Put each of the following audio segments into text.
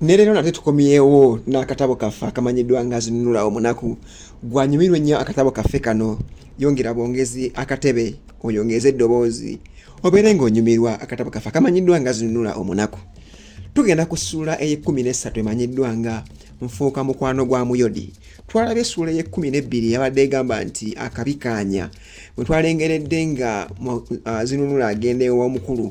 ne leero nate tukomyewo n'akatabo kaffe akamanyiddwa nga zinunula omunaku gwanyumirwa ennyo akatabo kaffe kano yongera bwongezi akatebe oyongeze eddoboozi obeere ng'onyumirwa akatabo kaffe akamanyiddwa nga zinunula omunaku tugenda ku ssuula ey'ekkumi n'essatu emanyiddwa nga nfuuka mukwano gwa muyodi twalaba essuula ey'ekkumi n'ebbiri yabadde egamba nti akabikaanya bwe twalengeredde nga zinunula agenda ew'omukulu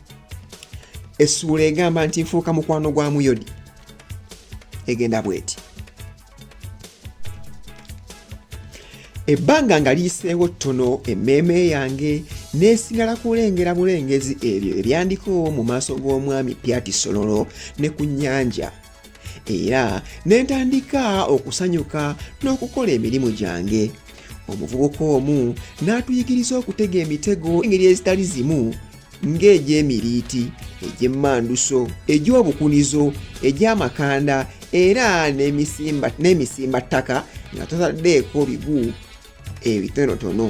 essuula egamba nti nfuuka mukwano gwa muyodi egenda bweti ebbanga nga liyiseewo ttono emmeeme yange neesigala kulengera bulengezi ebyo ebyandiko mu maaso g'omwami pyati sololo ne ku nnyanja era ne ntandika okusanyuka n'okukola emirimu gyange omuvubuka omu n'atuyigiriza okutega emitego engeri ezitali zimu ng'egy'emiriiti egy'emmanduso egy'obukunizo egy'amakanda era n'emisimba ttaka nga totaddeeko bigu ebitonotono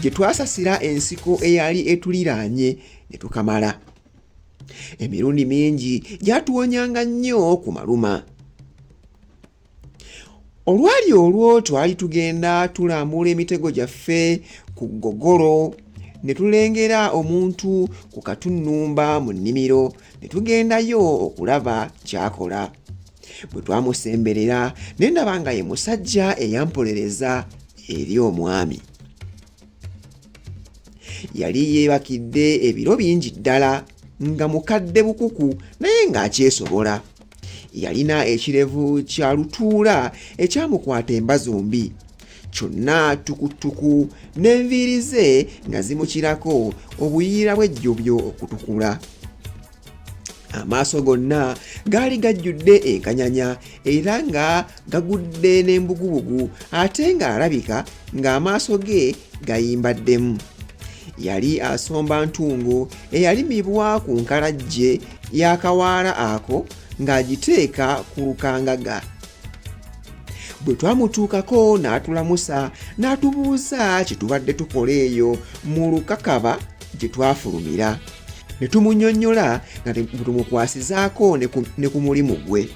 gye twasasira ensiko eyali etuliraanye ne tukamala emirundi mingi gyatuwonyanga nnyo ku maluma olwali olwo twali tugenda tulambula emitego gyaffe ku gogolo ne tulengera omuntu ku katunnumba mu nnimiro ne tugendayo okulaba kyakola bwe twamusemberera ne ndaba nga ye musajja eyampolereza eri omwami yali yeebakidde ebiro bingi ddala nga mukadde bukuku naye ng'akyesobola yalina ekirevu kya lutuula ekyamukwata emba zombi kyonna tukutuku n'enviiri ze nga zimukirako obuyiira bw'ejjobyo okutukula amaaso gonna gaali gajjudde enkanyanya era nga gagudde n'embugubugu ate ng'alabika ng'amaaso ge gayimbaddemu yali asomba ntungo eyalimibwa ku nkalajje y'akawaala ako ng'agiteeka ku lukangaga bwe twamutuukako n'atulamusa n'atubuuza kye tubadde tukola eyo mu lukakaba gye twafulumira ne tumunyonnyola nga tumukwasizaako ne ku mulimu gwe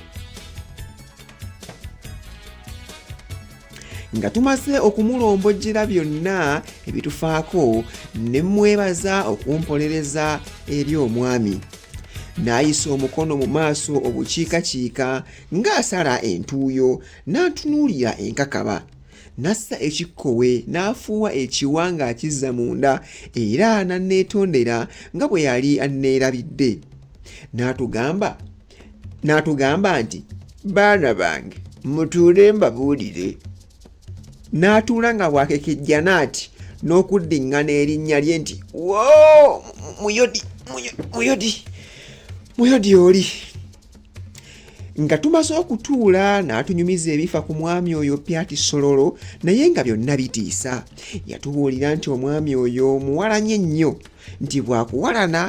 nga tumaze okumulombojjera byonna ebitufaako ne mmwebaza okumpolereza eri omwami n'ayisa omukono mu maaso obukiikakiika ng'asala entuuyo n'antunuulira enkakaba N'assa ekikkowe n'afuuwa ekiwa ng'akizza munda, era n'anneetondera nga bwe yali anneerabidde. N'atugamba, n'atugamba nti, Baana bange, mutuule mbabuulire. N'atuula nga bw'akekejja n'ati n'okuddiŋŋana erinnya lye nti, Woo! Muyodi, Muyodi, Muyodi oli! nga tumaze okutuula n'atunyumiza ebifa ku mwami oyo pyati sololo naye nga byonna bitiisa yatubuulira nti omwami oyo muwalanye nnyo nti bwakuwalana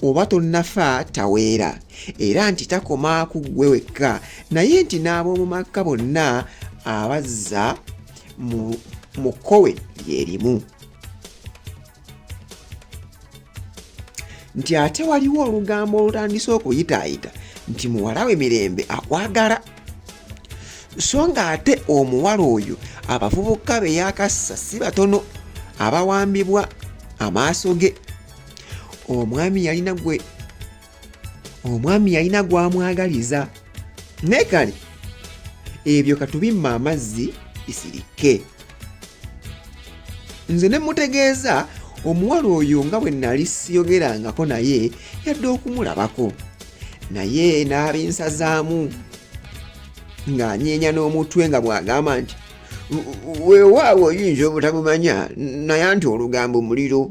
oba tonnafa taweera era nti takoma ku ggwe wekka naye nti n'ab'omu makka bonna abazza mu kkowe lyerimu nti ate waliwo olugambo olutandise okuyitaayita nti muwala we mirembe akwagala so nga ate omuwala oyo abavubuka be yakassa si batono abawambibwa amaaso ge omwami yalina gwe omwami yalina gwamwagaliza naye kale ebyo katubimma amazzi isirikke nze ne mutegeeza omuwala oyo nga bwe nali siyogerangako naye yadde okumulabako naye n'abinsazaamu ng'anyeenya n'omutwe nga bw'agamba nti weewaawo oyinza obutamumanya naye nti olugambo muliro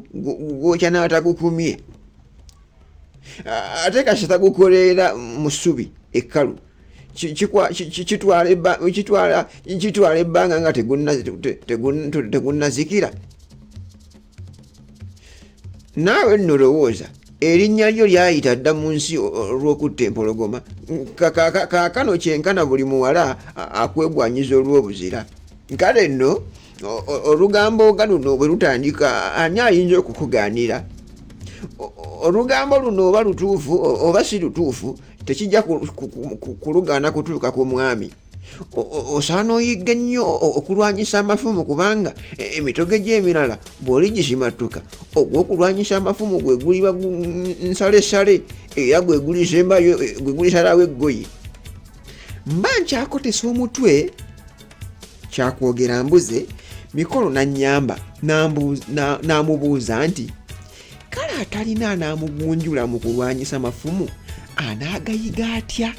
gwokya n'atakukumye ate kasita gukoleera mu ssubi ekkalu kitwala ebbanga nga tegunnazikira naawe nno lowooza erinnya lyo lyayita dda mu nsi olw'okutta empologoma kaakano kyenkana buli muwala akwegwanyiza olw'obuzira kale nno olugambo nga luno bwe lutandika ani ayinza okukugaanira olugambo luno oba lutuufu oba si lutuufu tekijja kulugaana kutuuka ku mwami osaana oyigga ennyo okulwanyisa amafumu kubanga e, emitogo egyemirala bw'oli gisimattuka ogw'okulwanyisa amafumu gwe guliba nsalesale era gwe gulisembayo e, gwe gulisalawo eggoyi mba nkyakotesa omutwe kyakwogera mbuze mikolo nanyamba n'amubuuza nti kale atalina anaamugunjula mu kulwanyisa mafumu anaagayiga atya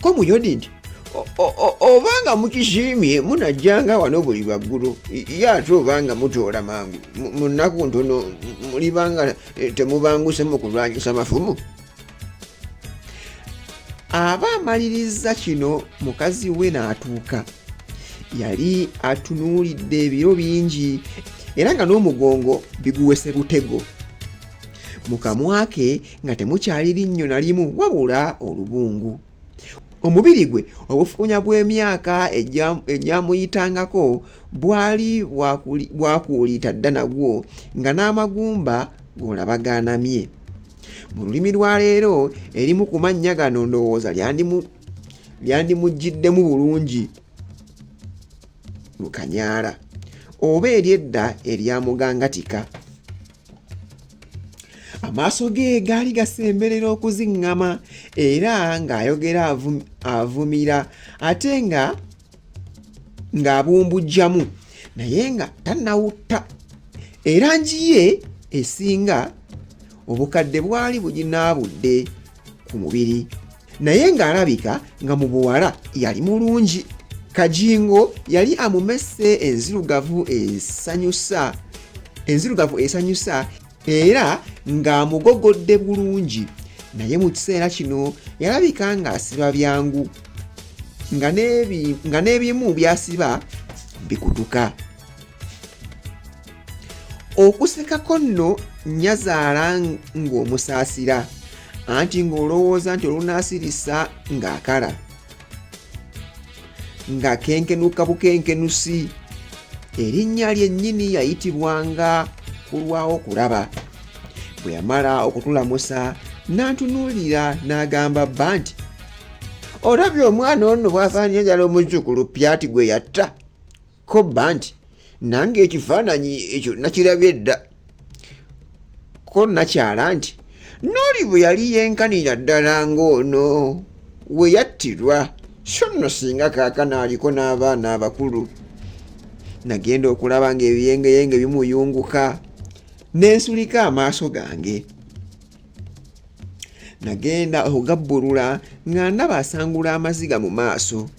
ko muyodi nti obanga mukisiimye munajjanga wano buli lwaggulu ye ate obanga mutoola mangu mu nnaku ntono mulibanga eh, temubanguse mu kulwanyisa mafumu aba amalirizza kino mukazi we n'atuuka yali atunuulidde ebiro bingi era nga n'omugongo biguwese butego mu kamwa ke nga temukyali linnyo na limu wabula olubungu omubiri gwe obufuunya bw'emyaka egyamuyitangako bwali bwakuuliita dda nagwo nga n'amagumba g'olaba gaanamye mu lulimi lwa leero erimu ku mannya gano ndowooza lyandimuggiddemu bulungi lukanyaala oba eryedda eryamugangatika amaaso ge gaali gasemberera okuziŋŋama era ng'ayogera avumira ate nga ng'abumbujjamu naye nga tannawutta erangi ye esinga obukadde bwali buginaabudde ku mubiri naye ng'alabika nga mu buwala yali mulungi kajingo yali amumese enzirugavu esanyusa enzirugavu esanyusa era ng'amugogodde bulungi naye mu kiseera kino yalabika ng'asiba byangu nga n'ebimu byasiba bikutuka okusekako nno nnyazaala ng'omusaasira anti ng'olowooza nti olunaasirisa ng'akala nga kenkenuka bukenkenusi erinnya lyennyini yayitibwanga kulwawo kulaba bwe yamala okutulamusa n'antunuulira n'agamba bba nti olabye omwana ono bw'afaanira ddala omuzzukulu pyati gwe yatta kobba nti nange ekifaananyi ekyo nakirabye dda ko nakyala nti nooli bwe yali yenkanira ddala ng'ono we yattirwa so nno singa kaakana aliko n'abaana abakulu nagenda okulaba ng'ebiyengeyenge bimuyunguka nensulika amaaso gange nagenda okugabbulula nga ndaba asangula amaziga mu maaso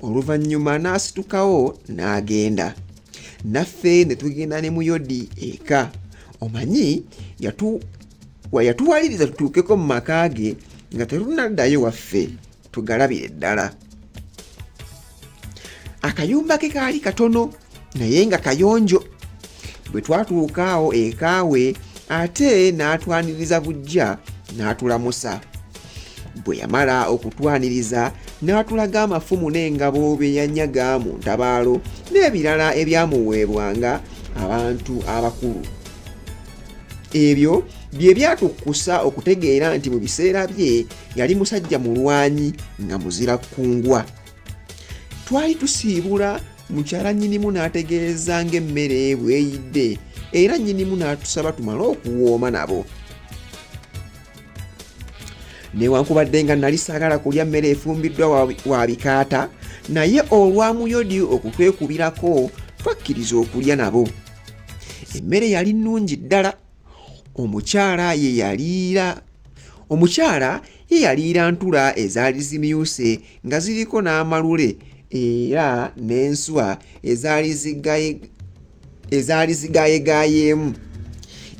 oluvannyuma n'asitukawo n'agenda naffe ne tugenda ne muyodi eka omanyi yatuwaliriza tutuukeko mu maka ge nga tetunaddayo waffe tugalabire ddala akayumba ke kaali katono naye nga kayonjo bwe twatuuka awo ekaawe ate n'atwaniriza bujja n'atulamusa bwe yamala okutwaniriza n'atulaga amafumu n'engabo bye yanyaga mu ntabaalo n'ebirala ebyamuweebwanga abantu abakulu ebyo bye byatukkusa okutegeera nti mu biseera bye yali musajja mulwanyi nga muzira kkungwa twali tusiibula mukyala nnyinimu n'ategeeza ng'emmere bweyidde era nnyinimu n'atusaba tumale okuwooma nabo newankubadde nga nali saagala kulya mmere efumbiddwa wa bikaata naye olwamuyodi okutwekubirako twakkiriza okulya nabo emmere yali nnungi ddala omukyala ye yaliira omukyala ye yaliira ntula ezaali zimyuse nga ziriko n'amalule era n'enswa ezaali zigaye ezaali zigayegayeemu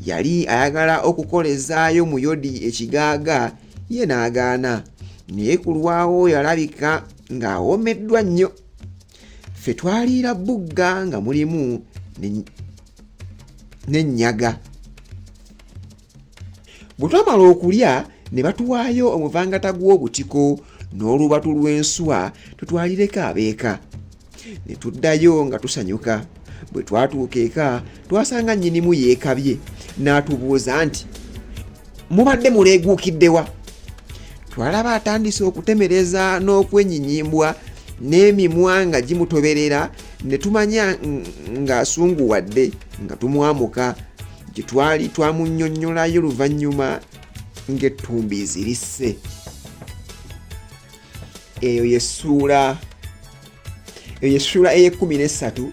yali ayagala okukolezaayo muyodi ekigaaga ye n'agaana naye ku lwawo yalabika ng'awomeddwa nnyo ffe twaliira bugga nga mulimu ne- n'ennyaga bwe twamala okulya ne batuwaayo omuvangata gw'obutiko n'olubatu lw'enswa tutwalireko abeeka ne tuddayo nga tusanyuka bwe twatuuka eka twasanga nnyinimu yeekabye n'atubuuza nti mubadde muleeguukiddewa twalaba atandise okutemereza n'okwenyinyimbwa n'emimwa nga gimutoberera ne tumanya ng'asunguwadde nga tumwamuka gye twali twamunnyonnyolayo luvannyuma ng'ettumbi zirisse eyo yesuula eyo yesuula ey'ekkumi n'essatu